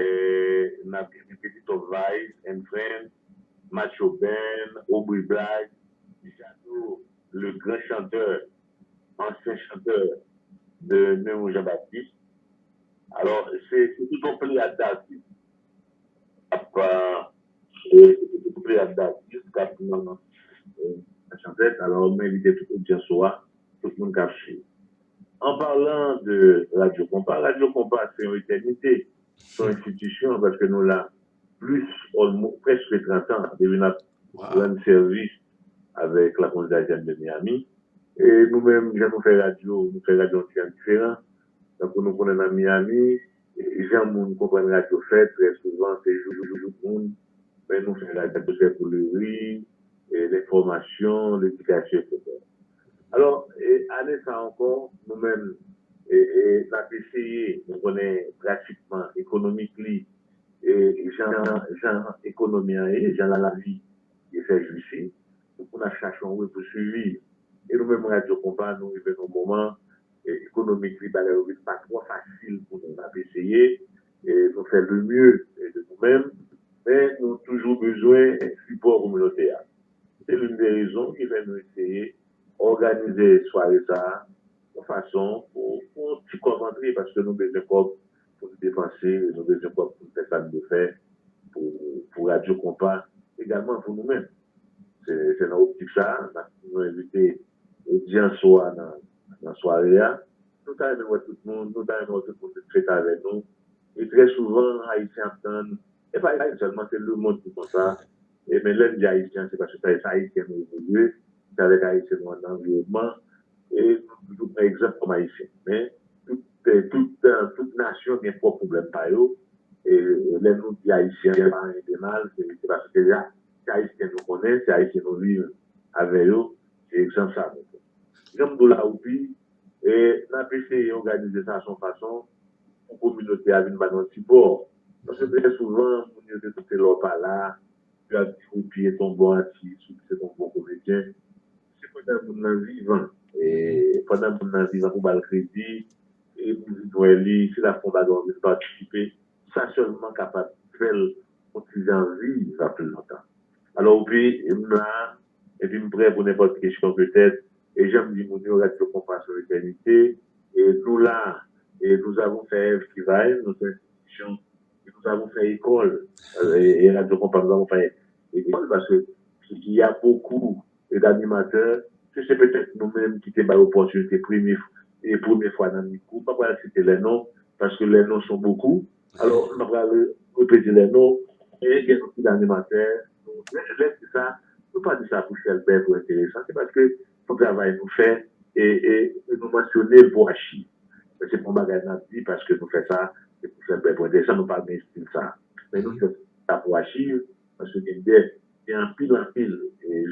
Eeh nap gen ti petit homme vice and friend, macho Ben, aubry black, jado le grand chanteur, ancien chanteur de nemou jean baptiste alors se tout yon pleyad d'artiste kap tout yon pleyad d'artiste kap nan chanpèt alors mwen envite tout audience ou a tout moun kap swiv. An parlan de Radyo Konpa, Radyo Konpa se yon etènite, se yon enstitisyon paske nou la plis olmo prèske trantan depi n ap rann sèvis avèk la Kominite Ayisyèn de Miyami. E nou menm jan nou fè radyo, nou fè radyo yon ti jan diferan. Tankou nou konnen nan Miyami, jan moun konprann radyo fèt trè souvan se jou pou jou moun, men nou fè radyo se pou le ri, lenfòmasyon, ledikasyon, eksetera. Alò, ane sa ankò, nou menm, n ap eseye, nou konnen pratikman ekonomik li, jan ekonomi an ye, jan lavi ye fè jou isi, fòk moun ap chache yon we pou siviv. E nou menm radyo konpa, nou rive nan yon moman ekonomik li, bagay yo vin pa twò fasil pou nou. N ap eseye, Nou fè le mieux de nou menm, men nou toujou bezwen sipò kominote a. Se l'une des raisons ki fè nou eseye òganize sware sa a yon fason pou yon ti kòb antre paske nou bezwen kòb pou nou depanse, nou bezwen kòb pou nou fè sa nou dwe fè pou radyo konpa egalman pou nou menm. Se nan optik sa a nou envite Odyans ou a nan sware a. Nou ta renmen wè tout moun, nou ta renmen wè tout moun vin fete avè nou. E trè souvan, Ayisyen ap tann, e pa Ayisyen sèlman, se lemonn ki konsa. E men lè n di Ayisyen, se paske se avèk Ayisyen nou evolye, se avèk Ayisyen nou ann anviwònman, e nou toujou pran egzanp kòm Ayisyen. Men, tout nasyon gen pwòp pwoblèm pa yo, e lè nou di Ayisyen pa anyen de mal, se paske se Se Ayisyen nou konnen, se Ayisyen nou viv avè yo, se egzanp sa nou gen. Jan m di w la Woupi, n ap eseye òganize sa son fason pou kominote a vin ba nou yon ti pò. Paske trè souvan, moun yo te doute lè w pa la, yo ap di Woupi et on bon atis, Woupi se t on bon komedyen. Se pandan moun nan vivan, pandan moun nan vivan pou ba l kredi, pou vin wè li, si l ap fè yon bagay ou vin patisipe. sa sèlman kapab fèl on ti jan viv pi lontan. Alò upi m la epi m prè pou nenpòt kesyon petèt e jan m di moun yo radyo konpa son etènite e nou la e nous avons fait èv ki va èv nou son enstitisyon e nous avons fait école e radyo konpa nous avons fait école paske ya bokou Ed animatè, Si se petèt nou menm ki te bay opòtinite premye e premye fwa nan mikwo, m pa pral site lè non, paske lè non son bokou, alò m pa pral repete lè non, men gen anpil animatè nou men lè m di sa, nou pa di sa pou chèlbè, pou enteresan, se paske son travay nou fè e nou mansyone l pou achiv, men se pa yon bagay n ap di paske nou fè sa se pou chèlbè, pou enteresan, nou pa gen estil sa, men nou fè sa pou achiv, Paske gen de, gen anpil anpil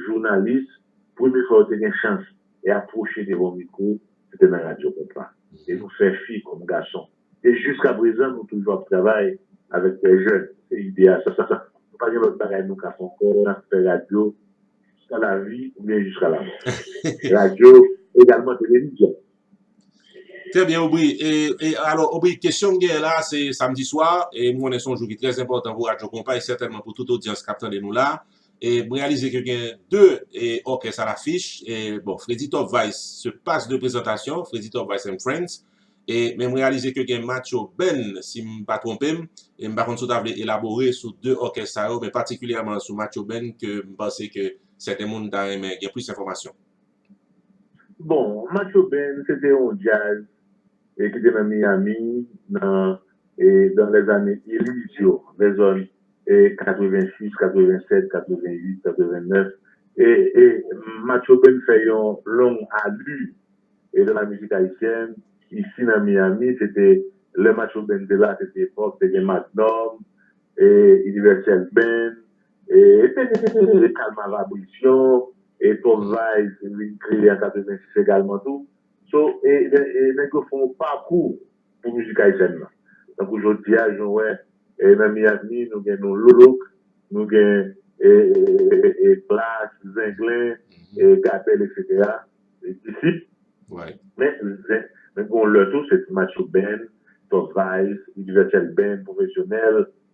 jounalis, premye fwa yo te gen chans e apwoche devan mikwo, se te nan radyo konpa. E nou fè fi kòm gason. E jiska prezan nou toujou ap travay avèk de jèn. Se ide a, sa sa sa. Nou pa gen lòt bagay nou ka fè ankò, n ap fè radyo jiska lavi oubyen jiska lamò. Radyo egalman televizyon. Trè byen Obri, e alò Obri kesyon m genyen la a se samdi swa e m konnen se yon jou ki trè enpòtan pou radyo konpa e sètènman pou tout odyans k ap tande nou la a e m reyalize ke gen de òkès a lafich e bon Fredi Top Vice se pas de prezantasyon Fredi Top Vice and Friends e men m reyalize ke gen Matcho Band si m pa twonpe m e m pa konn si w ta vle elabore sou de òkès sa yo men patikilyèman sou Matcho Band ke m panse ke sèten moun ta renmen gen plis enfòmasyon. Bon, Macho Band se te yon djaz e ki te nan Miyami nan e dan lè zane illiz yo, lè zòn e 86, 87, 88, 89 e e Macho Band fè yon long alu e dan la mizik ayisyèn isi nan Miyami se te lè Macho Band te la se te epòk te gen Magnum e Universel Band E Calma va Brisyon e Twòp Vayb te vin kreye an 86 egalman tou. So e nèg yo fè yon pakou pou mizik ayisyèn lan. Tankou jodi a jan w wè nan Miami nou gen nou Lolok, nou gen Klass, Zenglen, Gabèl eksetera, Disip. Men gen yon lè tou se Macho Band, Twòp Vayb, Inivèsèl Band, Pwofesyonèl.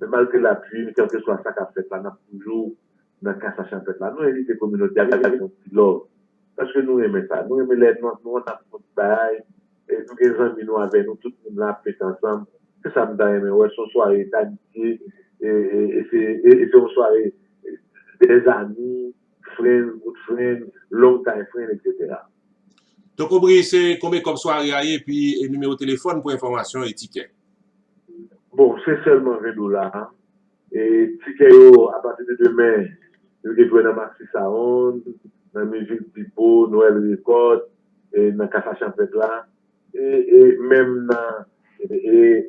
Men malgre lapui n kèlkeswa sa k ap fèt la n ap toujou nan kasa chanpèt la nou envite kominote a vin bay yon ti love paske nou renmen sa nou renmen lè nan nou an n ap fon ti bagay nou gen zanmi nou avè nou tout moun la ap fete ansanm se sa m ta renmen wè se yon sware damitye e se yon sware dèzami. Fren, kout fren, long time fren etc. Toko Bri se konbe kòb sware a ye epi nimewo telefòn pou enfòmasyon e tikè. Bon se sèlman 20 dola e tikè yo apati de demen yo gen pou yo nan Maxi Sound, nan Music Depot, Noël Record, nan Casa Champêtre la e menm nan e.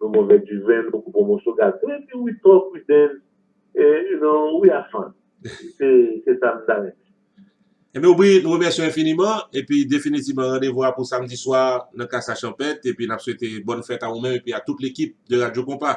Nou move duven nou pou bon moso gaz wi wi wi trop wi dance you know we have fun se sa m ta renmen. Enben ou byen, nou remèsye w enfiniman, epi definitiman randevou a pou samdi swa nan Klas La Chanpèt, epi n ap swete bòn fèt a ou menm epi a tout lekip de Radyo Konpa.